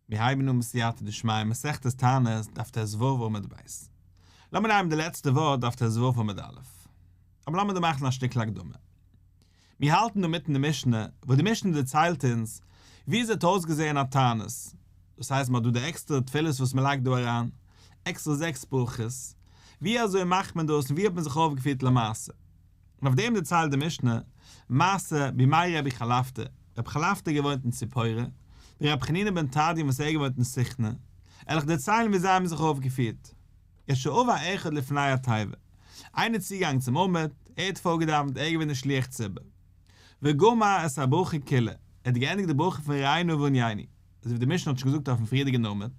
מיר הייבן אן בסייעתא דשמיא מסכת תענית דף טז ו עמוד ב'. לאמיר נייען די לעצטע ווארט דף טז ו עמוד א'. אבער לאמיר דא מאכן א שטיקל הקדמה. מיר האלטן דא מיטן די משנה, וואס די משנה דערציילט אונז ווי עס האט אויסגעזען א תענית, דאס הייסט מען האט דא די עקסטערע תפילות וואס מען לייגט דא אריין, עקסטערע זעקס ברכות, ווי אזוי מאכט מען דאס און ווי האט מען זיך אויפגעפירט למעשה. און אויף דעם דערציילט די משנה מעשה בימי רבי חלפתא, רבי חלפתא געוואוינט אין ציפורה, ווי רבי חנינא בן תרדיון וואס ער געוואוינט אין סכנא, עלעך דערציילן ווי זיי האבן זיך אויפגעפירט, ע ש הוה אחד לפני התיבה, איינער צוגעגאנגען צום עמוד, ער האט פארגעדאווענט, ער איז געווען די שליח ציבור, וגמר את הברכו כולה, ער האט געענדיגט די ברכו פון רעינו וענייני, אזויווי די משנה האט שוין געזאגט אויפן פריערדיגן עמוד,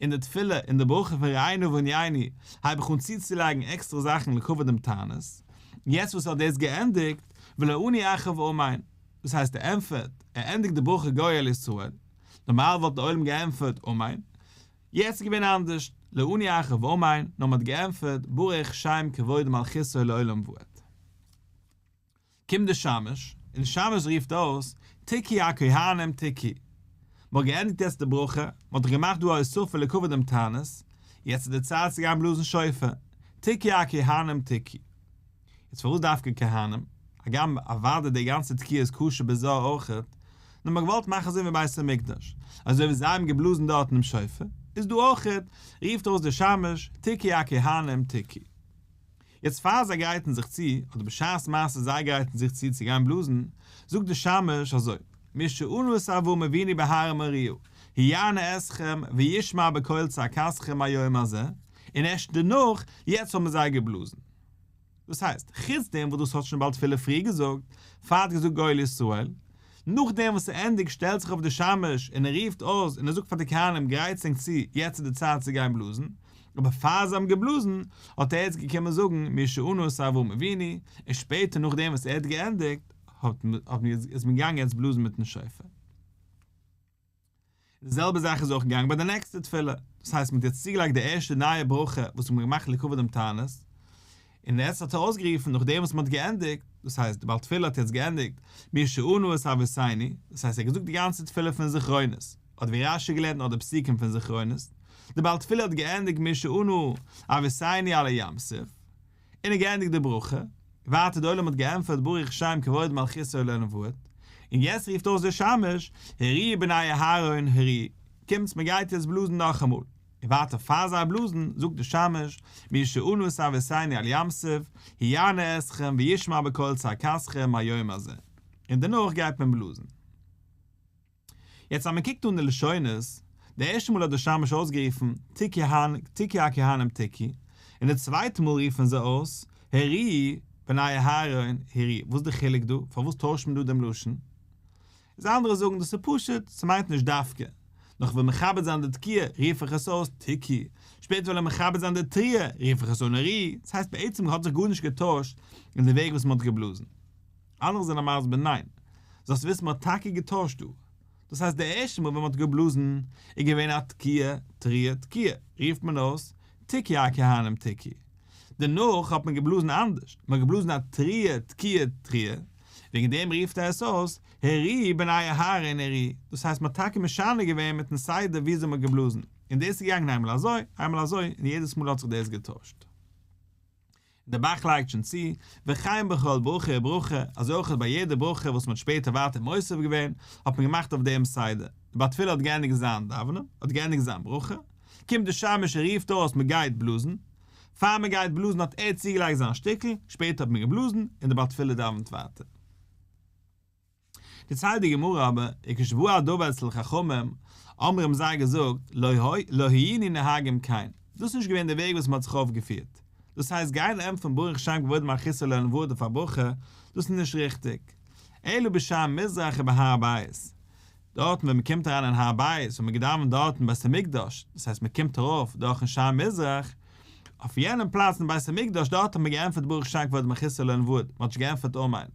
אין די תפילה אין די ברכה פון רעינו וענייני הייב איך אן צוצולייגן עקסטערע זאכן לכבוד דעם תענית, יעצט וואס ער האט דאס געענדיגט וויל ער אני אחר ואמיין, דאס הייסט ער ענטפערט, ער ענדיגט די ברכה גואל על ישראל, נארמאל וואלט דער עולם געענטפערט אמן, יעצט איז געווען אנדערש, לא אני אחר ואמיין, נאר מען האט געענטפערט ברוך שם כבוד מלכותו לעולם ועד. קומט דער שמש, און דער שמש רופט אויס, תיקי הכהנים תיקי! מ'האט געענדיגט יעצט די ברכה, מ'האט דאך געמאכט דא א אסיפה לכבוד דעם תענית, יעצט איז די צייט צו גיין בלאזן שופר, תיקי הכהנים תיקי! יעצט פארוואס דווקא כהנים? הגם אוודאי די גאנצע תקיעה איז קשור בזה אויך, נאר מ'האט געוואלט מאכן אזוי ווי אין בית המקדש, אזוי ווי זיי האבן געבלאזן דארטן דעם שופר, איז דא אויך, רופט אויס דער שמש, תיקי הכהנים תיקי! יעצט פאר זיי גרייטן זיך צו, אדער בשעת מעשה זיי גרייטן זיך צו צו גיין בלאזן, זאגט די שמש אזוי, משאנו סבו מביני בהר מוריהו, היענה אתכם וישמע בקול צעקתכם היום הזה, און ערשט דערנאך, יעצט האבן זיי געבלאזן. דאס הייסט, חוץ דעם וואס דאס האט שוין באלד פילע פריער געזאגט, פאר ער האט געזאגט גואל ישראל, נאכדעם וואס ער ענדיגט שטעלט זיך אויף די שמש און ער רופט אויס און ער זאגט פאר די כהנים גרייטס ענק צו יעצט איז די צייט צו גיין בלאזן, אבער פאר זיי האבן געבלאזן האט ער יעצט געקומען זאגן מיר שעונו סערבו מביני, און שפעטער נאכדעם וואס ער האט געענדיגט האט מען איז מען געגאנגען יעצט בלאזן מיטן שופר. די זעלבע זאך איז אויך געגאנגען ביי די נעקסטע תפילה, דאס הייסט מען האט יעצט צוגעלייגט די ערשטע נייע ברכה וואס האט מען געמאכט לכבוד דעם תענית, און יעצט האט ער אויסגערופן נאכדעם וואס מען האט געענדיגט, דאס הייסט די בעל תפילה האט יעצט געענדיגט מי שענו את אביסיני, דאס הייסט ער האט געזאגט די גאנצע תפילה פון זכרונות, אדער ווי רש י געלערנט נאך די פסוקים פון זכרונות, די בעל תפילה האט געענדיגט מי שענו אביסיני עלי ים סוף, און האט געענדיגט די ברכה, ווייטער דער עולם האט געענטפערט ברוך שם כבוד מלכותו לעולם ועד, און יעצט רופט אויס דער שמש, הערי בני אהרן הערי, קומטס מען גייט יעצט בלאזן נאכאמאל, און ווייטער פאר זיי בלאזן זאגט דער שמש, מי שאנו את אביסינו על ים סוף, היענה אתכם וישמע בקול צעקתכם היום הזה, און דערנאך גייט מען בלאזן. יעצט אז מען קוקט אן די לשונות, די ערשטע מאל האט דער שמש אויסגערופן תקי הן תקי הכהנים תקי, און די צווייטע מאל רופן זיי אויס הרי בני אהרן הרי, וואס איז די חילוק דא? פארוואס טוישט מען דא דעם לשון? איז אנדערע זאגן דאס איז פשוט, ס'מיינט נישט דווקא, נאך כ'וועל מכבד זיין די תקיעה רוף איך עס אויס תקי, שפעטער וועל איך מכבד זיין די תריעה רוף איך עס אן הרי, דאס הייסט בעצם האט זיך גארנישט געטוישט אין די וועג וואס מען האט געבלאזן. אנדערע זענען מסביר ניין. זאלסט וויסן מ'האט טאקע געטוישט דא. דאס הייסט די ערשטע מאל ווען מ'האט געבלאזן איז געווען א תקיעה, תריה, תקיעה, רופט מען אויס תקי א כהנים תקי. דערנאך האט מען געבלאזן אנדערש, מ'האט געבלאזן א תריה, תקיעה, תריה, וועגן דעם רופט ער עס אויס הערי בני אהרן הערי. דאס הייסט מ'האט טאקע משנה געווען מיטן סדר וויאזוי מ'האט געבלאזן, און דאס איז געגאנגען איינמאל אזוי, איינמאל אזוי, און יעדעס מאל האט זיך דאס געטוישט. און דער באַך לייגט שוין צו, וכן בכל ברכה וברכה, אַזוי אויך ביי יעדע ברכה וואָס מ'האָט שפּעטער ווייטער מוסיף געווען, האָט מען געמאַכט אויף דעם סדר, דער בעל תפילה האָט געענדיגט זיין דאַוונען, האָט געענדיגט זיין ברכה, קומט דער שמש און רופט אויס מ'גייט בלאָזן, פאַר מ'גייט בלאָזן האָט ער צוגעלייגט זיין שטיקל, שפּעטער האָט מען געבלאָזן, און דער בעל תפילה דאַוונט ווייטער. דערציילט די גמרא אבער, און כשבאו הדבר אצל חכמים, אמר האבן זיי געזאגט, לא היינו נוהגים כן, דאס איז נישט געווען דער וועג וואס מען האט זיך אויפגעפירט, דאס הייסט גיין ענטפערן ברוך שם כבוד מלכותו לעולם ועד אויף א ברכה, דאס איז נישט ריכטיג. אלא בשער מזרח ובהר הבית, דארטן ווען מען קומט אריין אין הר הבית וואו מען געדאווענט דארטן בית המקדש, דאס הייסט מען קומט ארויף דורכן שער מזרח, אויף יענעם פלאץ אין בית המקדש דארט האט מען געענטפערט ברוך שם כבוד מלכותו לעולם ועד, מען האט נישט געענטפערט אמן,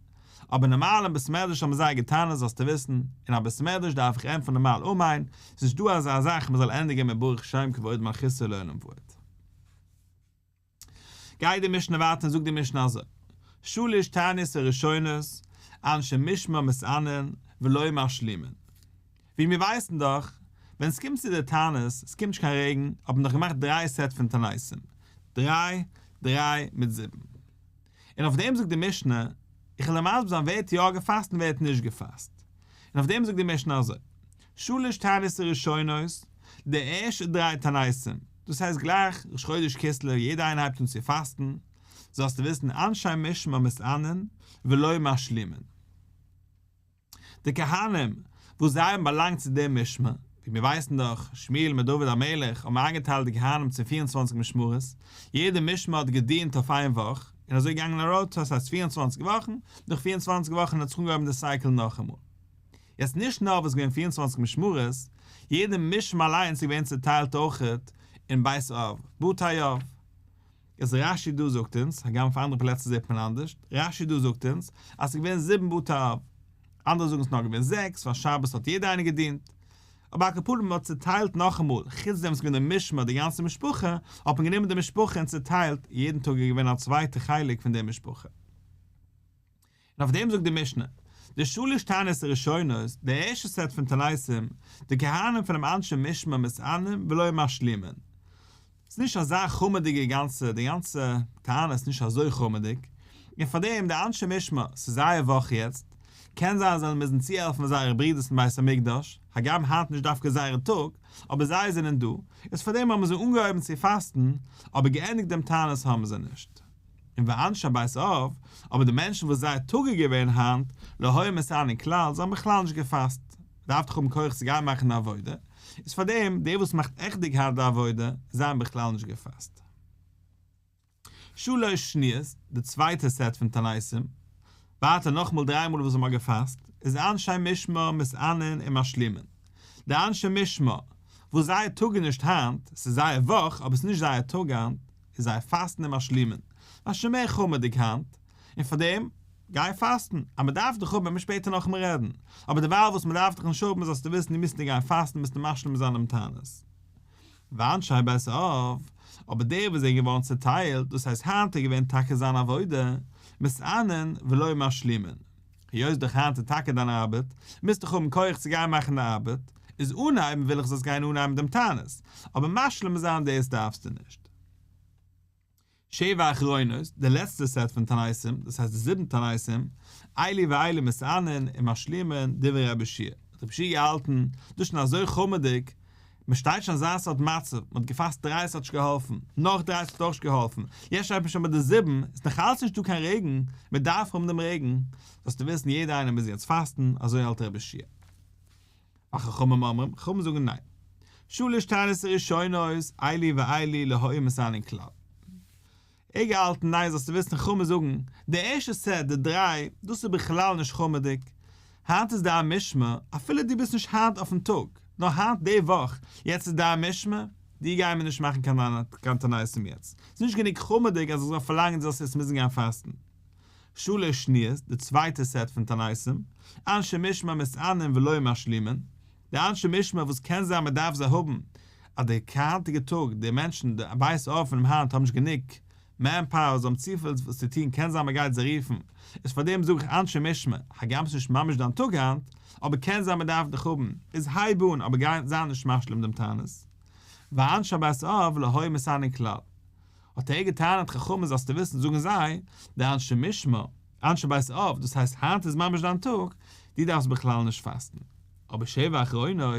אבער נארמאל אין בית מדרש האבן זיי געטענה'ט זאלסטו וויסן, אין א בית מדרש דארף איך ענטפערן נארמאל אמן, ס'איז נישט דא אזא זאך מען זאל ענדיגן מיט ברוך שם כבוד מלכותו לעולם ועד. גייט די משנה ווייטער און זאגט די משנה אזוי, שלש תעניות הראשונות אנשי משמר מסענין ולא משלימין, ווי מיר ווייסן דאך, ווען ס'קומט צו די תענית, ס'קומט נישט קיין רעגן, האט מען דאך געמאכט דריי סעט פון תעניתים, דריי, דריי מיט זיבן. און אויף דעם זאגט די משנה, איך וועל דיר מסביר זיין ווער האט יא געפאסט און ווער האט נישט געפאסט, און אויף דעם זאגט די משנה אזוי, שלש תענית ראשונות, די ערשטע דריי תעניתים, דאס הייסט גלייך ראש חודש כסלו יעדער איינער הייבט אן צו פאסטן, זאלסטו וויסן אנשי משמר מסענין ולא משלימין. די כהנים וואס זיי האבן באלאנגט צו דעם משמר, ווי מיר ווייסן דאך, שמואל מיט דוד המלך האבן איינגעטיילט די כהנים צו פיר און צוואנציג משמרות, יעדע משמר האט געדינט אויף איין וואך, און אזוי געגאנגען א ראטאציע פאר פיר און צוואנציג וואכן, נאך פיר און צוואנציג וואכן האט זיך אנגעהויבן די סייקל נאכאמאל. יעצט נישט נאר וואס געווען פיר און צוואנציג משמרות, יעדע משמר אליינס איז געווען צוטיילט אויכעט אין בית אב, בתי אב, איז רש י דא זאגט אונז, הגם אויף אנדערע פלעצער זעט מען אנדערש, רש י דא זאגט אונז אז ס'איז געווען זיבן בתי אב, אנדערע זאגן ס'איז נאר געווען זעקס ווייל שבת האט יעדער איינער געדינט. אבער על כל פנים מען האט צוטיילט נאכאמאל, חוץ דעם איז געווען די משמר די גאנצע משפחה, האט מען גענומען די משפחה און צוטיילט, יעדן טאג איז געווען א צווייטע חלק פון די משפחה. און אויף דעם זאגט די משנה, די שלש טענות הראשונות, די ערשטע סעט פון תניסים, די כהנים פון דעם אנשי משמר מסענים ולא משלימין. ס'איז נישט אזא חרמ'דיגע גאנצע, די גאנצע טענה איז נישט אזוי חרמ'דיג, און פאר דעם די אנשי משמר, ס'איז זייער וואך יעצט, קען זיין זיי מוזן צוהעלפן זייערע ברידערס אין בית המקדש, הגם היינט נישט דווקא זייערע טאג, אבער זיי זענען דא, איז פאר דעם האבן זיי אנגעהויבן צו פאסטן, אבער געענדיגט דעם תענית האבן זיי נישט. און ואנשי בית אב, אבער די מענטשן וואס זייער טאג איז געווען היינט, לא היה מסען אין כלל, זיי האבן בכלל נישט געפאסט, מען דארף דאך האבן כח צו גיין מאכן די עבודה, איז פארדעם די וואס מאכט עכטדיג היינט די עבודה, זיי האבן בכלל נישט געפאסט. שלש שניות, די צווייטע סעט פון תעניתים, ווייטער נאכאמאל דריי מאל וואס זיי האבן געפאסט, איז אנשי משמר מסענין און משלימין. די אנשי משמר, וואס זייער טאג איז נישט היינט, ס'איז זייער וואך, אבער ס'איז נישט זייער טאג היינט, איז זייער פאסטן און משלימען א שוין מער חומר'דיג היינט, און פאר דעם גיי פאסטן, אז מען דארף דיך האבן וועט מען שפעטער נאכאמאל רעדן, אבער דערווייל וואס מען דארף דיך נישט האבן איז אז דו ווילסט נישט מוזטו גיין פאסטן מוזטו משלים זיין דעם תענית. וויין שיי בעסער אויף, אבער דער וואס זענען געווארן צעטיילט, דאס הייסט היינט איז געווען טאקע זיין עבודה, מסענן ולא משלימין. היות דאך היינט איז טאקע דיין ארבעט, מוזט דאך האבן כח צו גיין מאכן די ארבעט, איז אנהייבן וויל איך זאלסט גיין אנהייבן דעם תענית, אבער משלים זיין דאס דארפסטו נישט. שבע אחרונות, די לעצטע סעט פון תעניתים, דאס הייסט די זיבן תעניתים, איילי ואיילי מסייענען און משלימען דברי רבי שיע, האט רבי שיע געהאלטן דאס שוין אזוי חמה'דיג, מען שטייט שוין אזא סארט מצב, מען האט געפאסט דרײַ ס'האט נישט געהאלפן, נאך דרײַ ס'האט אויך נישט געהאלפן, יעצט שטייט מען שוין ביי די זיבן, עס איז נאך אלץ נישטא קיין רעגן, מען דארף האבן דעם רעגן, זאלסטו וויסן יעדער איינער מוז יעצט פאסטן, אזוי האלט רבי ישעי'. והחכמים אומרים, חכמים זאגן ניין. שלש טענות ראשונות, איילי ואיילי להוי מסנן כלל. איך געהאלטן ניין זאלסטו וויסן חו מ זאגן די ערשטע סעט די דריי דאס איז בכלל נישט חו מ'דיג היינט איז דיין משמע אפילו דו ביסט נישט היינט אויפן טאג נאר היינט די וואך יעצט איז דיין משמע דיר גייען מיר נישט מאכן קיין תנאים יעצט ס'איז נישט גענוג חו מ'דיג אז איך זאל פארלאנגען דו זאלסט יעצט מוזן גיין פאסטן שלש שניות די צווייטע סעט פון תנאים אנשי משמע מסענין ולא משלימין. די אנשי משמר וואס קען זיין מען דארף זיי האבן אז די היינטיגע טאג די מענטשן די בית אבן און היינט האבן נישט גענוג מען פאוער זיי האבן צופיל וואס צו טון קען זיין מען גייט זיי רופן איז פארדעם זאג איך אנשי משמר הגם ס'איז נישט ממש דיין טאג היינט אבער קען זיין מען דארף דיך האבן איז הייב אן אבער גיי זיי נישט משלים דעם טענות ואנשי בית אב לא היו מסייעין כלל האט ער געטענה'ט חכם איז זאלסטו וויסן זאגן זיי די אנשי משמר אנשי בית אב, דאס הייסט היינט איז ממש דיין טאג, דו דארפסט בכלל נישט פאסטן. אבער שבע אחרונות,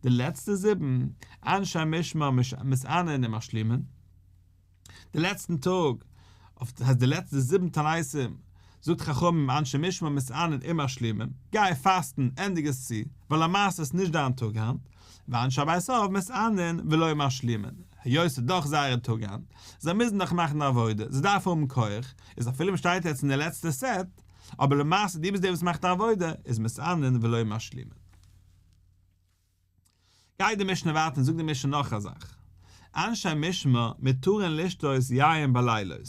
די לעצטע זיבן, אנשי משמר מסענן און משלימין, די לעצטן טאג, אויף הייסט די לעצטע זיבן תעניתים, זאגט חכמים אנשי משמר מסענן און משלימין, גיי פאסטן, ענדיג עס צו, ווייל למעשה איז נישט דיין טאג היינט, ואנשי בית אב מסענן ולא משלימין, היות ס'איז דאך זייערע טאג היינט, זיי מוזן דאך מאכן עבודה, זיי דארפן האבן כח, איז אפילו מ'שטייט יעצט אין די לעצטע סעט, אבער למעשה דו ביסט דער וואס מאכט די עבודה, איז מסענין ולא משלימין. גייט די משנה ווייטער און זאגט די משנה נאך א זאך, אנשי משמר מתירין לשתות יין בלילות,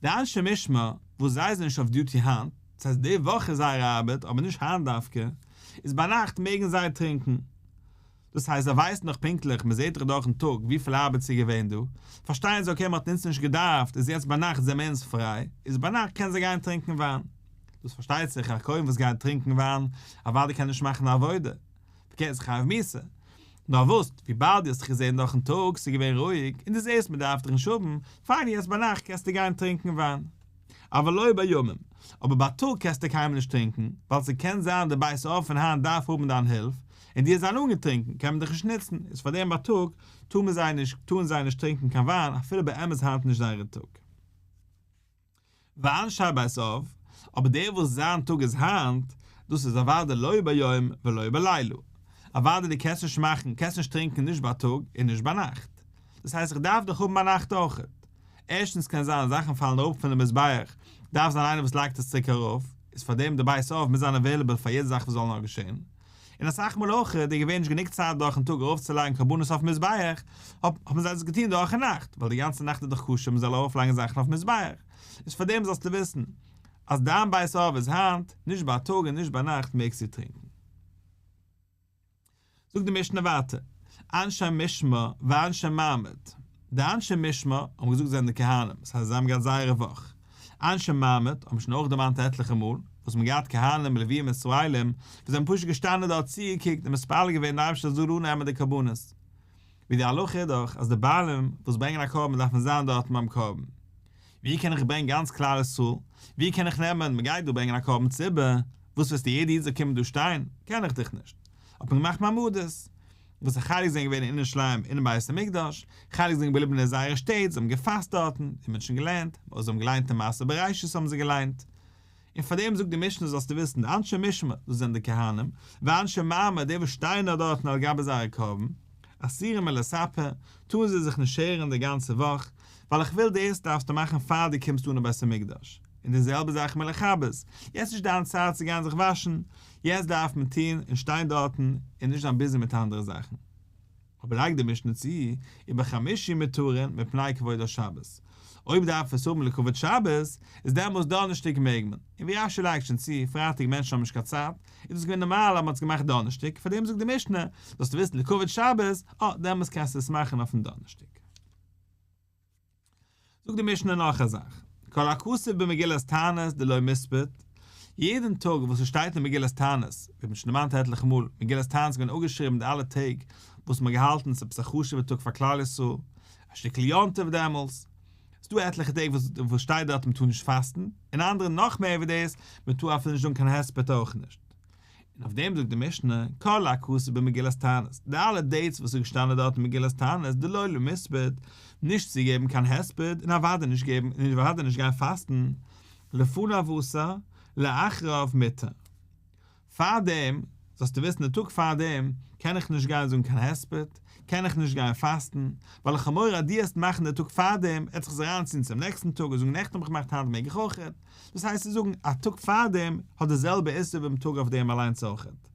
די אנשי משמר וואס זיי זענען נישט אויף דיוטי היינט, דאס הייסט די וואך איז זייער ארבעט אבער נישט היינט דווקא, איז ביינאכט מעגן זיי טרינקען. דאס הייסט זיי ווייסן דאך פונקטליך, מען זעט דאך דורכן טאג וויפיל ארבעט ס'איז געווען דא, פארשטייען זיי אקעי מען האט אונז נישט געדארפט, איז יעצט ביינאכט זעמער אונז פריי, איז ביינאכט קענען זיי גיין טרינקען וויין. דאס פארשטייט זיך א כהן וואס גייט טרינקען וויין אוודאי קען נישט מאכן א עבודה, פארקערט איז חייב מיתה. נאר וואס, וויבאלד דו האסט דאך געזען דורכן טאג ס'איז געווען רואיג, און דו זעסט מען דארף דיר נישט האבן, פיין יעצט ביינאכט קענסטו גיין טרינקען וויין. אבל לא בימים, אבער בייטאג קענסטו קיינמאל נישט טרינקען, ווייל ס'קען זיין די בית אב פון היינט דארף האבן דיין הילף, און די זיין אנגעטרינקען קען מען דיך נישט נוצן, איז פאר דעם בייטאג טאר מען זיי נישט טארן זיי נישט טרינקען קיין וויין אפילו באמת היינט נישט זייערע טאג. ואנשי בית אב, אבער דער וואס זיין טאג איז היינט, דאס איז אוודאי לא ביום ולא בלילה, אוודאי די קענסט נישט מאכן, קענסט נישט טרינקען נישט בייטאג און נישט ביינאכט, דאס הייסט איך דארף דיך האבן ביינאכט אויך, ערשטנס קען זיין זאכן פאלן אראפ פון די מזבח, דארף זיין איינער וואס לייגט עס צוריק ארויף, איז פאר דעם די בית אב מוז זיין עוועליבעל פאר יעדע זאך וואס זאל נאר געשען, און אסאך מאל אויך איז דא געווען נישט גענוג צייט דורכן טאג ארויפצולייגן קרבנות אויפן מזבח, האבן זיי דאס געטון דורכן נאכט, ווייל די גאנצע נאכט איז דאך כשר מען זאל ארויפלייגן זאכן אויפן מזבח, איז פאר דעם זאלסטו וויסן אז דיין בית אב איז היינט, נישט בייטאג און נישט ביינאכט מעגסטו טרינקען. זאגט די משנה ווייטער, אנשי משמר ואנשי מעמד, די אנשי משמר האבן געזאגט זענען די כהנים, דאס הייסט זיי האבן געהאט זייערע וואך, אנשי מעמד האבן שוין אויך דערמאנט עטליכע מאל וואס מ'האט געהאט כהנים און לווים ישראלים וואס זענען פשוט געשטאנען דארט צוגעקוקט און מתפלל געווען די אייבערשטער זאל אננעמען די קרבנות ווי די הלכה איז דאך אז די בעלים וואס ברענגען א קרבן דארפן זיין דארטן ביים קרבן. ווי קען איך ברענגען גאנץ כלל ישראל? ווי קען איך נעמען מ'גייט דא ברענגען א קרבן ציבור, וואס ווילסטו יעדע איד זאל קומען דא שטיין? קען איך דיך נישט. האט מען געמאכט מעמדות. וואס א חלק זענען געווען אין ירושלים אינעם בית המקדש, חלק זענען געבליבן אין זייערע שטעט, זיי האבן געפאסט דארטן, די מענטשן געלערנט, אויב זיי האבן געליינט אין מעשה בראשית האבן זיי געליינט. און פאר דעם זאגט די משנה זאלסטו וויסן, די אנשי משמר, דאס זענען די כהנים, ואנשי מרמר, די וואס שטייען נאר דארטן על גבי זייערע קרובים, אסירים על הספה, טארן זיי זיך נישט שערן די גאנצע וואך, ווייל איך וויל דאס דארפסטו מאכן פאר דו קומסט אן אין בית המקדש, און די זעלבע זאך מיט לכבס, יעצט נישט דיין צייט צו גיין זיך וואשן, יעצט דארף מען טון און שטיין דארטן און נישט זיין ביזי מיט אנדערע זאכן. אבער לייגט די משנה צו, איבער חמשים מותרין מפני כבוד השבת, אויב דארף עס האבן לכבוד שבת, איז דעמאלס דאנערשטאג מעג מען, און ווי רש י לייגט שוין צו, פרייטאג מענטשן האבן נישט קיין צייט, איז דאס געווען נארמאל אז מען האט עס געמאכט דאנערשטאג, פארדעם זאגט די משנה, זאלסטו וויסן לכבוד שבת, אה, דעמאלס קענסטו עס מאכן אויפן דאנערשטאג. זאגט די משנה נאך א זאך, כל הכסוף במגילת תענית דלא מספית, יעדן טאג וואס עס שטייט אין מגילת תענית, ווי מ'האט שוין דערמאנט עטליכע מאל, מגילת תענית איז געווען אפגעשריבן מיט אלע טעג וואס מ'האט געהאלטן עס עפעס א חשוב'ע טאג פאר כלל ישראל, א שטיקל יום טוב דעמאלס, ס'איז דא עטליכע טעג וואס שטייט דארט מ'טאר נישט פאסטן, און אנדערע נאך מער ווי דאס, מ'טאר אפילו נישט זאגן קיין הספד אויך נישט, און אויף דעם זאגט די משנה, כל הכתוב במגילת תענית, די אלע דעיטס וואס איז געשטאנען דארט אין מגילת תענית דלא למספד, נישט צו געבן קיין הספד און אוודאי נישט געבן און אוודאי נישט גיין פאסטן, לפניו אסר, לאחריו מותר. פאר דעם, זאלסטו וויסן די טאג פאר דעם, קען איך נישט גיין זאגן קיין הספד, קען איך נישט גיין פאסטן, ווייל איך האב מורא אז דו העסט מאכן די טאג פאר דעם, עטס זיך אריינציען צום נעקסטן טאג און זאגן נעכטן האב איך געמאכט היינט מעג איך אויך. דאס הייסט צו זאגן א טאג פארדעם האט די זעלבע איסור וועם טאג אויף דעם אליינס אויכעט,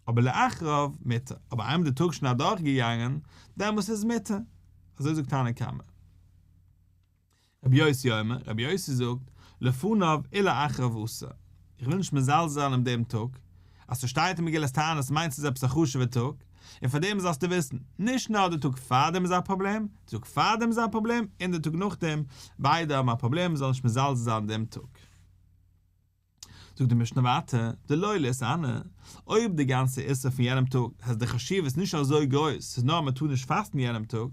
אבער לאחריו מותר, אבער איינמאל די טאג איז שוין אדורך געגאנגען דעמאלס איז מותר, אזוי זאגט תנא קמא. רבי יוסי אומר, רבי יוסי זאגט, לפניו אי לאחריו אסור, איך וויל נישט מזלזל זיין אין דעם טאג, אז ס'שטייט אין מגילת תענית מיינט ס'איז עפעס א חשוב'ער טאג, און פארדעם זאלסטו וויסן, נישט נאר די טאג פארדעם איז א פראבלעם, די טאג פארדעם איז א פראבלעם, און די טאג נאכדעם, ביידע האבן א פראבלעם מ'זאל נישט מזלזל זיין דעם טאג. זאגט די משנה ווייטער, די לא עלית אנא, אויב די גאנצע איסור פון יענעם טאג אז די חשיבות איז נישט אזוי גרויס, ס'איז נאר מ'טאר נישט פאסטן יענעם טאג,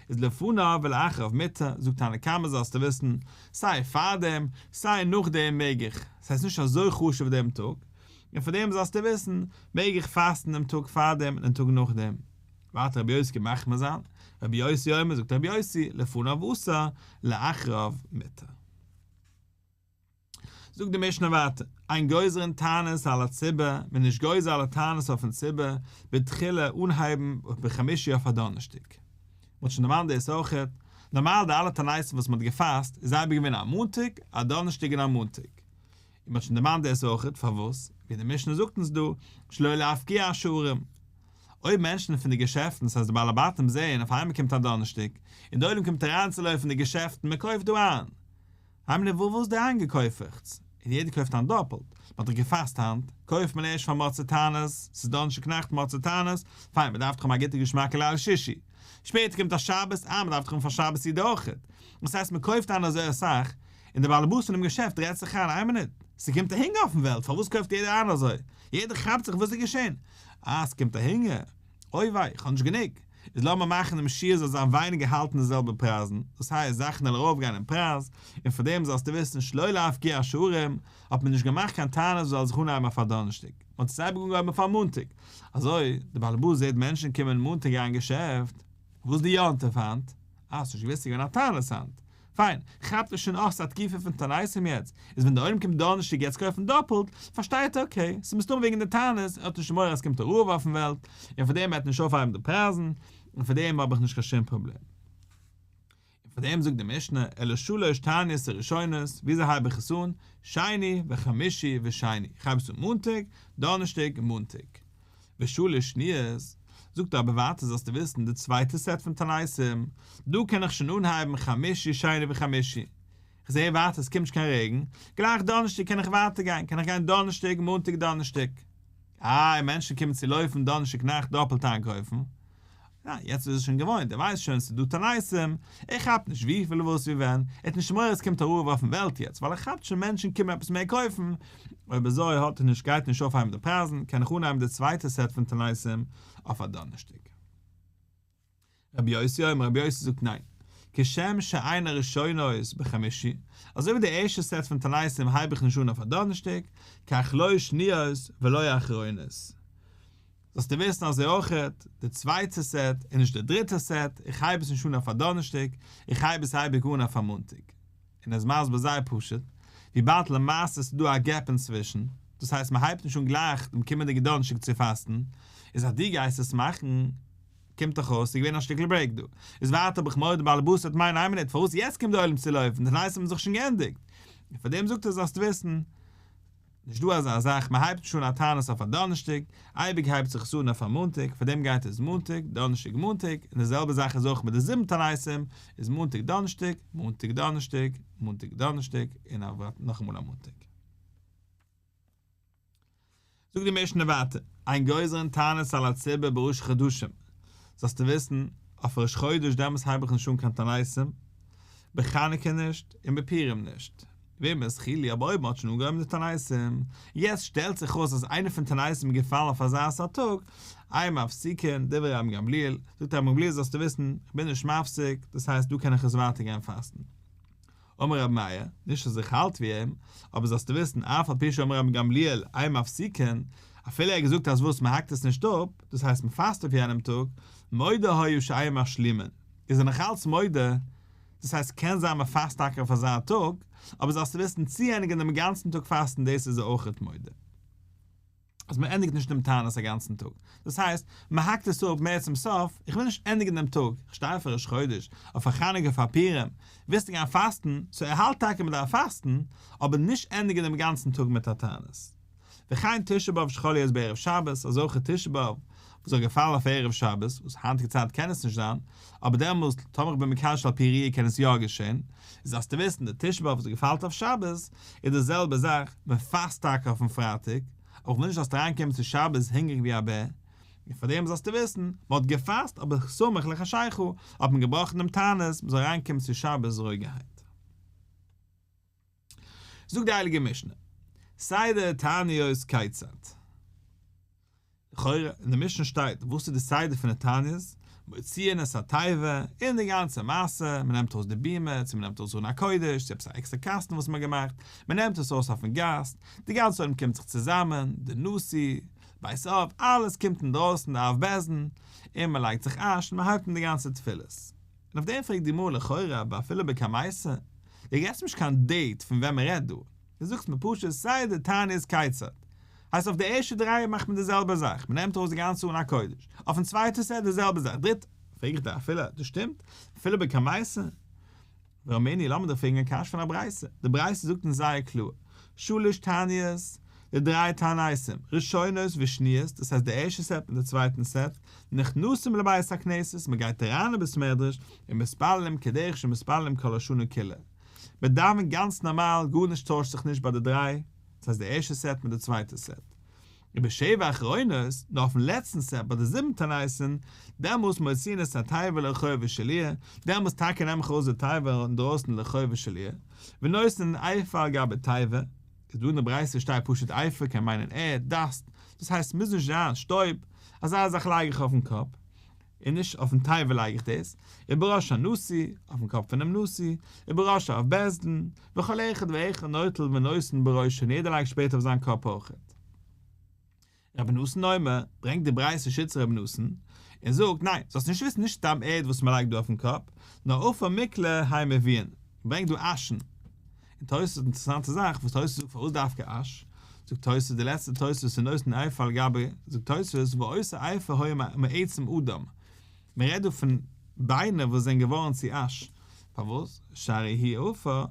איז לפניו ולאחריו מותר, זאגט תנא קמא זאלסטו וויסן, סיי פארדעם, סיי נאכדעם מעג איך, ס'הייסט נישט אזוי חשוב דעם טאג, און פאר דעם זאלסטו וויסן, מעג איך פאסטן דעם טאג פאר דעם און דעם טאג נאך דעם? וועט רבי יוסי מחמיר זיין? רבי יוסי אומר, זאגט רבי יוסי, לפניו אסור, לאחריו מותר. זאגט די משנה ווייטער, אין גוזרין תענית על הציבור, מען איז נישט גוזר אלע תענית אויפן ציבור, בתחילה אנהייבן אויף בחמישי אויף א דאנערשטאג. מען האט שוין דערמאנט דאס אויכעט, נארמאל די אלע תעניתים וואס מען האט געפאסט, איז אייביג געווען א מאנטאג, א דאנערשטאג און א מאנטאג. און מ'האט שוין דערמאנט דאס אויכעט, פארוואס, ווי די משנה זאגט אונז דא, שלא להפקיע השערים. אויב מענטשן פון די געשעפטן, ס'הייסט די בעלי בתים זעהן אויף איינמאל קומט א דאנערשטאג, און די עולם קומט אריינצולויפן די געשעפטן, מ'קויפט דא איין. האמיר נישט וואו וואס דער איינגעקויפעכטס, און יעדער קויפט איין דאפלט, מ'האט דאך געפאסט היינט, קויפט מען ערשט פאר מוצאי תענית, ס'איז דאנערשטאג נאכט מוצאי תענית, פיין, מ'דארף דאך האבן א גוטע געשמאקע ליל שישי. שפעטער קומט א שבת, אה, מ'דארף דאך האבן פאר שבת סעודה אויכעט. דאס הייסט מ'קויפט איין אזוי אסאך, און דער באלעבאס פונעם געשעפט רעדט זיך איין, איין מינוט, ס'קומט א הונגער אויפן וועלט, פארוואס קויפט יעדער איין אזוי? יעדער כאפט זיך וואס איז געשען? אה, ס'קומט א הונגער? אוי וויי, איך האב נישט גענוג. איז לאמיר מאכן דעם שיעור זאל זיין ווייניגער האלטן די זעלבע פרייזן, דאס הייסט זאכן זאלן ארויף גיין אין פרייז, און פאר דעם זאלסטו וויסן שלא להפקיר את שערים, האט מען נישט געמאכט קיין תענית זאל זיך אנהייבן אויף א דאנערשטאג, מ'האט עס אייביג אנגעהויבן אויף א מאנטאג, אזוי, דער באלעבאס זעט מענטשן קומען מאנטאג גיין געשעפט. וואס די יו ט אויף היינט? אה, ס'נישט געווען ס'איז געווען א תענית היינט. פיין, כאפט ער שוין אויף ס'איז א תקיפה פון טענעסים יעצט, איז ווען דער עולם קומט דארנערשטאג יעצט קויפן דאפלט, פארשטייט ער אקעי, ס'איז מסתמא וועגן די טענות, ער האט נישט מורא אז ס'קומט א רעוו אויפן וועלט, און פארדעם וועט נישט אויפהייבן די פרייזן, און פארדעם האב איך נישט קיין שום פראבלעם. און פארדעם זאגט די משנה, אלא שלש תעניות הראשונות, וויאזוי הייב איך עס אן, שני וחמישי ושני, איך הייב עס אן מאנטאג, דארנערשטאג און מאנטאג. ושלש שניות, זאגט ער אבער ווייטער זאלסטו וויסן די צווייטע סעט פון תעניתים, דא קען איך שוין אנהייבן חמישי שני וחמישי, איך זעה ווייטער עס קומט נישט קיין רעגן, גלייך דאנערשטאג קען איך ווייטער גיין, קען איך גיין דאנערשטאג מאנטאג דאנערשטאג, איי מענטשן קומען צו לויפן דאנערשטאג נאכט דאפעלט איינקויפן, ניין, יעצט איז ער שוין געוואוינט, ער ווייסט שוין ס'דא טאלייסים, ער כאפט נישט וויפיל וואס ווי ווען, ער האט נישט מורא עס קומט א רעב אויפן וועלט יעצט, ווייל ער כאפט שוין מענטשן קומען עפעס מער קויפן, אויב אזוי האט ער נישט גייט נישט אויפהייבן די פרייזן, קען איך אנהייבן די צווייטע סעט פון טאלייסים אויף א דאנערשטאג. רבי יוסי אויב רבי יוסי זאגט ניין, כשם שאין הראשונות בחמישי, אזוי ווי די ערשטע סעט פון טאלייסים הייב איך נישט אן אויף א דאנערשטאג, כך לא שניות ולא אחרונות, זאלסטו וויסן אזוי אויכעט, די צווייטע סעט איז נישט די דריטע סעט, איך הייב עס נישט אן אויף א דאנערשטאג, איך הייב עס אייביג אן אויף א מאנטאג. און ער איז מסביר זייער פשוט, וויבאלד למעשה איז דא א געפ אינצווישן, דאס הייסט מען הייבט נישט אן גלייך דעם קומענדיגע דאנערשטאג צו פאסטן, איז אז דו גייסט עס מאכן, קומט דאך אויס ס'איז געווען א שטיקל ברעיק דא. איז ווייטער האב איך מורא די באלעבאס וועט מיינען איין מינוט פארוואס יעצט קומט די עולם צו לויפן, די נייעס האבן זיך שוין געענדיגט. און פארדעם זאגט ער זאלסט וויסן, נישט דא אזא זאך, מען הייבט נישט אן א תענית אויף א דאנערשטאג, אייביג הייבט זיך עס אן אויף א מאנטאג, פארדעם גייט עס מאנטאג, דאנערשטאג, מאנטאג, און די זעלבע זאך איז אויך מיט די זיבן תעניתים, איז מאנטאג דאנערשטאג, מאנטאג דאנערשטאג, מאנטאג דאנערשטאג, און א ווייטער נאכאמאל א מאנטאג. זאגט די משנה ווייטער, אין גוזרין תענית על הציבור בראש חדשים, זאלסטו וויסן, אויף ראש חודש דעמאלטס הייב איך נישט אן קיין תעניתים, בחנוכה נישט, און בפורים נישט. וועמען איז חילי? אבער אויב מען האט שוין אנגעהויבן די תעניתים, יעצט שטעלט זיך אויס אז איינע פון די תעניתים איז געפאלן אויף אזא סארט טאג, איי מפסיקין דברי רבן גמליאל, זאגט רבן גמליאל זאלסטו וויסן, איך בין נישט מפסיק, דאס הייסט דא קען איך עס ווייטער גיין פאסטן. אמר רבי מאיר, נישט אז איך האלט ווי אים, אבער זאלסטו וויסן, אף על פי שאמר רבן גמליאל איי מפסיקין, אפילו ער האט געזאגט אז וואס מען האקט עס נישט אפ, דאס הייסט מען פאסט אויף יענעם טאג, מודה היה שאיי משלימין, איז ער נאכאלץ מודה, דאס הייסט קען זיין מען פאסט טאקע אויף אזא טאג, אבער זאלסטו וויסן צוענדיגן דעם גאנצן טאג פאסטן דאס איז ער אויך מודה אז מען ענדיגט נישט דעם תענית א גאנצן טאג, דאס הייסט מען האקט עס אפ מער צום סוף, איך וויל נישט ענדיגן דעם טאג, איך שטיי אויף ראש חודש, אויף א חנוכה פאר פורים, ווילסטו גיין פאסטן, סאו ער האלט טאקע מען דארף פאסטן, אבער נישט ענדיגן דעם גאנצן טאג מיט א תענית. וכן תשעה באב שחל להיות בערב שבת, אזוי אויך תשעה באב וואס זאל געפאלן אויף ערב שבת, וואס היינטיגע צייט קען עס נישט זיין, אבער דעמאלסט, טאמער איך בין מקשר שעל פי ראי' קען עס יא געשען, איז אז צו וויסן די תשעה באב וואס געפאלט אויף שבת, איז די זעלבע זאך, מען פאסט טאקע אויפן פרייטאג, אבער איך וויל נישט זאלסט אריינקומען צו שבת הונגעריג ווי א בער, און פארדעם זאלסטו וויסן, מען האט געפאסט אבער סמוך לחשכה האט מען געבראכן דעם תענית מען זאל אריינקומען צו שבת רואיגערהייט. זאגט די הייליגע משנה, סדר תעניות איז כיצד, לכאורה אין די משנה שטייט וואס איז די סדר פון די תעניות, מוציאין את התיבה, און די גאנצע מעשה, מען נעמט ארויס די בימה, צו מען נעמט ארויס ארון הקודש, צו עפעס א עקסטער קאסטן וואס מען האט געמאכט, מען נעמט עס ארויס אויפן גאס, די גאנצע עולם קומט זיך צוזאמען, די נשיא, בית אב, אלעס קומט אינדרויסן די אב בית דין, און מען לייגט זיך אש און מען הייבט אן די גאנצע תפילות. און אויף דעם פרעגט די גמרא לכאורה אבער אפילו בקה מייסר, דו געבסט נישט קיין דעיט פון ווען מען רעדט דא, דו זאגסט מיר פשוט סיי די תענית איז קייצערט. הייסט אויף די ערשטע דריי מאכט מען די זעלבע זאך, מען נעמט ארויס די גאנצע אן א קודש, אויפן צווייטע סעט די זעלבע זאך, דריטע פרעג איך דיר אפילו דאס שטימט, אפילו בקה מייסר? ואומרני לאמיר דיך פרעגן א קשיא פון א ברייתא, די ברייתא זאגט אונז זייער קלאר, שלש תעניות די דריי תעניתים, ראשונות ושניות, דאס הייסט די ערשטע סעט מיט די צווייטן סעט, נכנסים לבית הכנסת, מען גייט אריין אין בית מדרש, און מתפללים כדרך שמתפללים כל השנה כולה. מען דאווענט גאנץ נארמאל, גארנישט טוישט זיך נישט ביי די דריי, דאס הייסט די ערשטע סעט מיט די צווייטע סעט. און בשבע אחרונות, נאר אויפן לעצטן סעט ביי די זיבן תעניתים, דעמאלס מוציאין את התיבה לרחוב ושליה, דעמאלס טאקע נעם איך ארויס די תיבה אינדרויסן לרחוב ושליה, ונושאין אייפא על גבי תיבה, איז דא אין די ברייתא שטייט פשוט עפר קען מיינען ערד, דאסט, דאס הייסט ס'מוז נישט זיין שטויב, אזא זאך לייג איך אויפן קאפ, און נישט אויפן טייוול לייג איך דאס, ובראש הנשיא, אויפן קאפ פונעם נשיא, ובראש האב בית דין, וכל אחד ואחד נוטל ונושא בראשו און יעדער לייגט שפעט אויף זיין קאפ אויכעט. רבי נתן אומר, ברענגט די ברייתא שצר רבי נתן, און זאגט, ניין, זאלסט נישט וויסן, נישט סתם ערד וואס מ'לייגט דא אויפן קאפ, נאר עפר מקלע היי מביאין, מ'ברענגט דא אשן. און תוס' אינטערעסאנטע זאך וואס תוס' זאגט פארוואס דווקא אש, זאגט תוס' די לעצטע תוס' אין נושא עפר על גבי, זאגט תוס' ועושה עפר היה מעצם אדם, מען רעדט דא פון ביינער וואס זענען געווארן צו אש, פארוואס? שהרי היא עופה,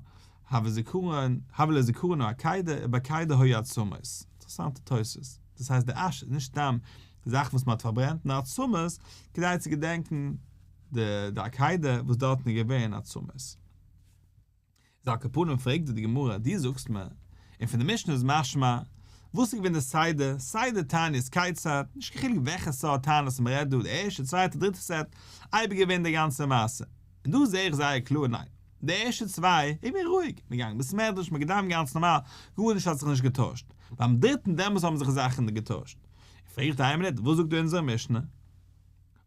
הוה זיכרון, הוה לא זיכרונו הקיידא, ובקיידא היו עצמות. אינטערעסאנטע תוספות. דאס הייסט די אש איז נישט סתם זאכן וואס מען האט פארברענט, נאר עצמות, כדי צו געדענקן די די הקיידא וואס דארטן איז געווען עצמות. זיי כפנים פרעגט זיי די גמרא דו זאגסט מיר און פון די משנה איז משמע, וואס איז געווען די סדר, סדר תענית כיצד, נישט קיין חילוק וועלכע סארט תענית מען רעדט דא די ערשטע צווייטע דריטע סעט, אייביג געווען די גאנצע מעשה, און דא זעה איך זייער קלאר ניין, די ערשטע צוויי איז געווען רואיג, מען געגאנגען בית מדרש, מען געדאווענט גאנץ נארמאל, גארנישט האט זיך נישט געטוישט, ביים דריטן דעמאלס האבן זיך זאכן געטוישט, און פרעגט איינער מינוט וואס זאגט אונזערע משנה?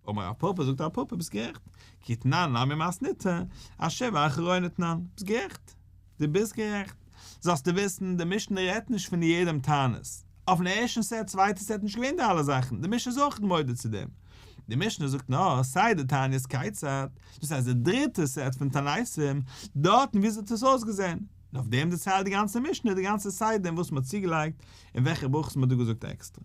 אמר א פאפא זאגט א פאפא ביסט גערעכט, כי תנן למי מאסניתא, אשרי ואחרי נתנן, ביסט גערעכט, די ביסט גערעכט, זאלסטו וויסן די משנה רעדט נישט פון יעדעם תענית, אויפן ערשטן סעט צווייטע סעט נישט געווען די אלע זאכן, די משנה איז אויך מודה צו דעם, די משנה זאגט נאר סיי די תענית כיצד, דאס הייסט די דריטע סעט פון תעניתים, דארטן וויאזוי האט עס אויסגעזען, און אויף דעם דערציילט די גאנצע משנה די גאנצע סדר אין וואס מען האט צוגעלייגט אין וועלכע ברכות מען האט דא געזאגט עקסטער.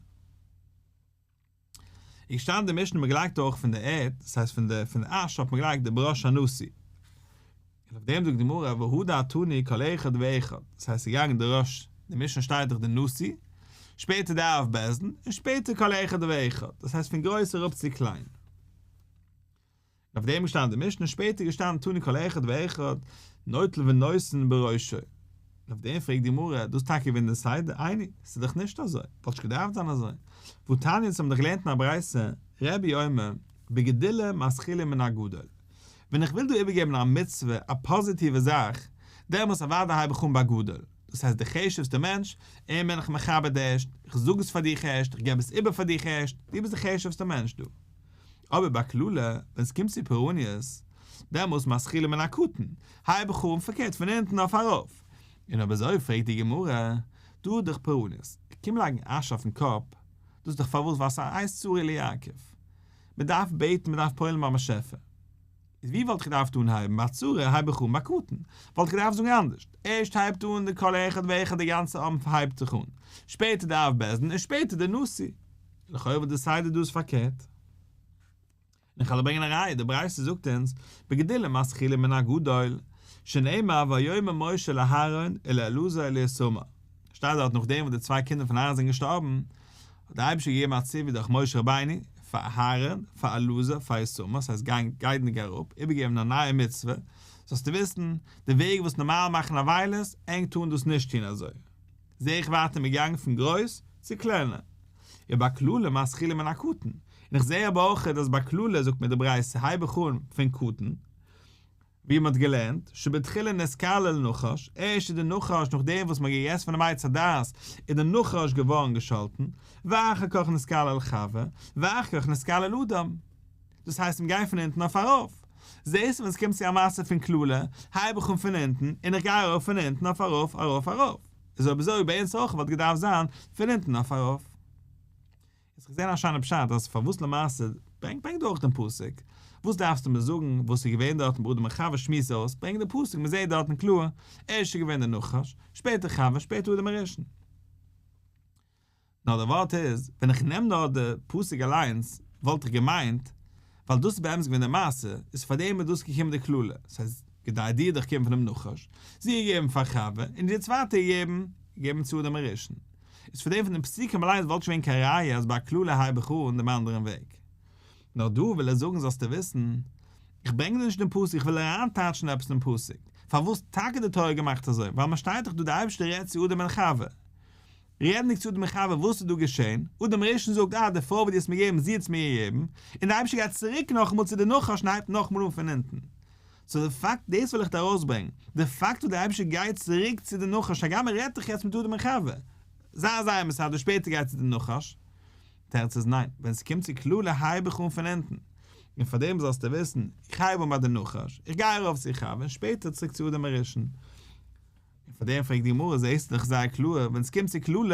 איז געשטאנען די משנה מ'געלייגט אויך פון די ערד, דאס הייסט פון די פון די אש האט מען געלייגט די בראש הנשיא. און אויף דעם זאגט די גמרא והוא דעתני כל אחד ואחד, דאס הייסט ס'איז געגאנגען די ראש, די משנה שטייט דאך די נשיא, שפעטער די אב בית דין, און שפעטער כל אחד ואחד, דאס הייסט פון גרויס אראפ צו קליין. אויף דעם איז געשטאנען די משנה, שפעטער איז געשטאנען תנו כל אחד ואחד נוטל ונושן בראשו. און אויף דעם פרעגט די גמרא, דאס טאקע ווען די סדר? עיני, ס'איז דאך נישט אזוי, וואלט נישט געדארפט זיין אזוי. והוא תניא, אונז האבן דאך געלערנט אין א ברייתא, רבי אומר, בגדולה מתחילים מן הגדול. ווען איך וויל דא איבערגעבן א מצוה, א פאזיטיווע זאך, דעמאלס אוודאי הייב איך אן ביי גדול. דאס הייסט די חשוב'סטע מענטש, אים בין איך מכבד ערשט, איך זאג עס פאר דיך ערשט, איך געב עס איבער פאר דיך ערשט, דו ביסט די חשוב'סטע מענטש דא. אבער ביי קללה, ווען ס'קומט צו פורעניות, דעמאלס משכילים מן הקטן, היי בחורים פארקערט פון אונטן אויף ארויף. און אויב אזוי פרעגט די גמרא, דא איז דאך פורעניות, קום לייגן אש אויפן קאפ, דאס איז דאך פארוואס ווייסט א הייסט צורי ליעקב. מ'דארף בעטן, מ'דארף פועל'ן ביים באשעפער. איז ווי וואלט איך געדארפט אנהייבן? ביי צרה הייב איך אן ביי קטן. וואלט איך געדארפט זאגן אנדערש. ערשט הייבט אן די כל אחד ואחד די גאנצע עם הייבט זיך אן. שפעטער די אב בית דין און שפעטער די נשיא. לכאורה וואלט די סדר דא איז פארקערט. און איך העל ברענגען א ראיה, די ברייתא זאגט אונז, בגדול מתחילים מן הגדול, שנאמר ויאמר משה לאהרן אל אלעזר אל איתמר. שטייט דארט נאכדעם וואס די צוויי קינדער פון אהרן זענען געשטארבן, האט דער אייבערשטער געגעבן א ציווי דורך משה רבינו פאר אהרן, פאר אלעזר, פאר איתמר, ס'הייסט גיין גיידענדיג אראפ, איבערגעבן א נייע מצוה, זאלסטו וויסן, די וועג וואס נארמאל מאכן עוולות, ענק טארן דאס נישט טון אזוי. זע איך ווייטער מיר גאנגען פון גרויס צו קלענער. און ביי קללה מתחילים מן הקטן, און איך זע אבער אויכעט אז ביי קללה זאגט מען די ברייתא הייב איך אן פון קטן, ווי מען האט געלערנט, שבתחילה נתקלל נחש, ערשט איז דער נחש נאכדעם וואס מען האט געגעסן פון דעם עץ הדעת איז דער נחש געווארן געשאלטן, ואחר כך נתקלל חווה, ואחר כך נתקלל אדם. דאס הייסט מען גייט פון אונטן אויף ארויף. זעסט ווען עס קומט צו א מעשה פון קללה, הייב איך אן פון אונטן, און איך גיי ארויף פון אונטן אויף ארויף ארויף ארויף. איז אויב אזוי ביי אונז אויך וואלט געדארפט זיין פון אונטן אויף ארויף. יעצט איך זען א שיינע פשט אז פארוואס למעשה, ברענג ברענג דורך דעם פסוק, וואס דארפסטו מיר זאגן וואס איז געווען דארטן ברודער מיין חבר שמועסט אויס, ברענג דעם פסוק מען זעט דארטן קלאר, ערשט איז געווען דער נחש, שפעטער חווה, שפעטער אדם הראשון. נאר דער ווארט איז, ווען איך נעם נאר די פסוק אליינס, וואלט איך געמיינט ווייל דאס איז באמת געווען די מעשה, איז פאר דעם איז דאס געקומען די קללה, סא איז כדי דיר דיך קערן פונעם נחש, זי געבן פאר חווה, און די צווייטע געבן, געבן צו אדם הראשון. איז פאר דעם פון די פסוקים אליינס וואלט נישט געווען קיין ראיה אז ביי א קללה הייב איך אן דעם אנדערן וועג. נאר דא וויל ער זאגן זאלסטו וויסן, איך ברענג דיר נישט דעם פסוק, איך וויל אריינטייטשן עפעס אין פסוק, פארוואס טאקע די תורה האט געמאכט אזוי, ווייל מען שטייט דאך דא די אייבערשטער רעדט צו אדם און חווה, רעדנדיג צו דעם חבר וואס איז דא געשען, האט דער מרשען זאגט אה די פרוי וואס דו האסט מיר געגעבן זי האטס מיר געגעבן, און דער אייבישטער גייט צוריק נאכאמאל צו די נחש און הייבט נאכאמאל אן פון אונטן. סאו די פאקט, דאס וויל איך ארויסברענגן, די פאקט וואס דער אייבישטער גייט צוריק צו די נחש הגם ער רעדט דאך יעצט מיט אדם און חווה, זייער זייער מסדר שפעטער גייט צו די נחש, תירוץ איז ניין, ווען ס'קומט צו קללה הייב איך אן פון אונטן, און פארדעם זאלסטו וויסן, איך הייב אן ביי די נחש, איך גיי ארויף צו חווה און שפעטער צוריק צו אדם הרשע'ן. און פאר דעם פרעגט די גמרא זעהסט עס דאך זייער קלאר ווען עס קומט צו קללות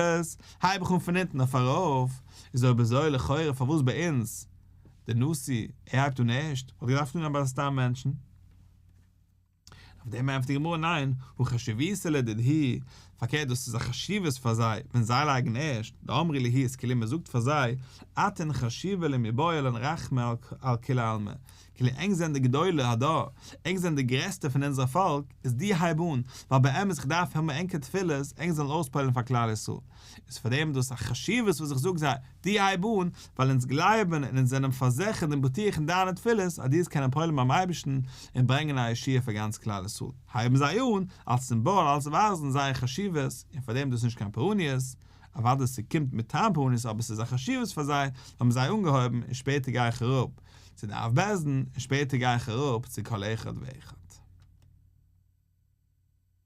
הייב איך אן פון אונטן אויף ארויף, איז אויב אזוי לכאורה פארוואס ביי אונז דער נשיא ער הייבט אן ערשט וואלט געדארפט אנהייבן ביי די סתם מענטשן? אויף דעם ענטפערט די גמרא ניין הוא חשיביתא לדדהי פארקערט דאס איז א חשיבות פאר זיי ווען זיי לייגן ערשט, דאמרי ליהי איז כאילו מען זאגט פאר זיי אתן חשיבה למי באה עלינו רחמי על כולי עלמא כאילו ענק זענען די גדולי הדור, ענק זענען די גרעסטע פון אונזער פאלק, איז די הייב אן, ווייל באמת איך דארף האבן ענקער תפילות, ענק זאלן אויספועל'ן פאר כלל ישראל, איז פאר דעם דאס א חשיבות וואס איך זאג זיי, די הייב אן, ווייל אונז גלייבן און אונז זענען פארזעכערט און בטוח אין דיינע תפילות אז דו קענען פועל'ן ביים אייבערשטן און ברענגען א ישועה פאר גאנץ כלל ישראל, הייבן זיי אן, אלס סימבאל, אלס ווייזן זייער חשיבות, און פאר דעם דאס איז נישט קיין פורעניות, אוודאי ס'קומט מטעם פורעניות אבער ס'איז א חשיבות פאר זיי, האבן זיי אנגעהויבן, און שפעטער גיי איך אראפ, צו די אב בעסדן און שפעטער גיי איך אראפ צו כל אחד ואחד.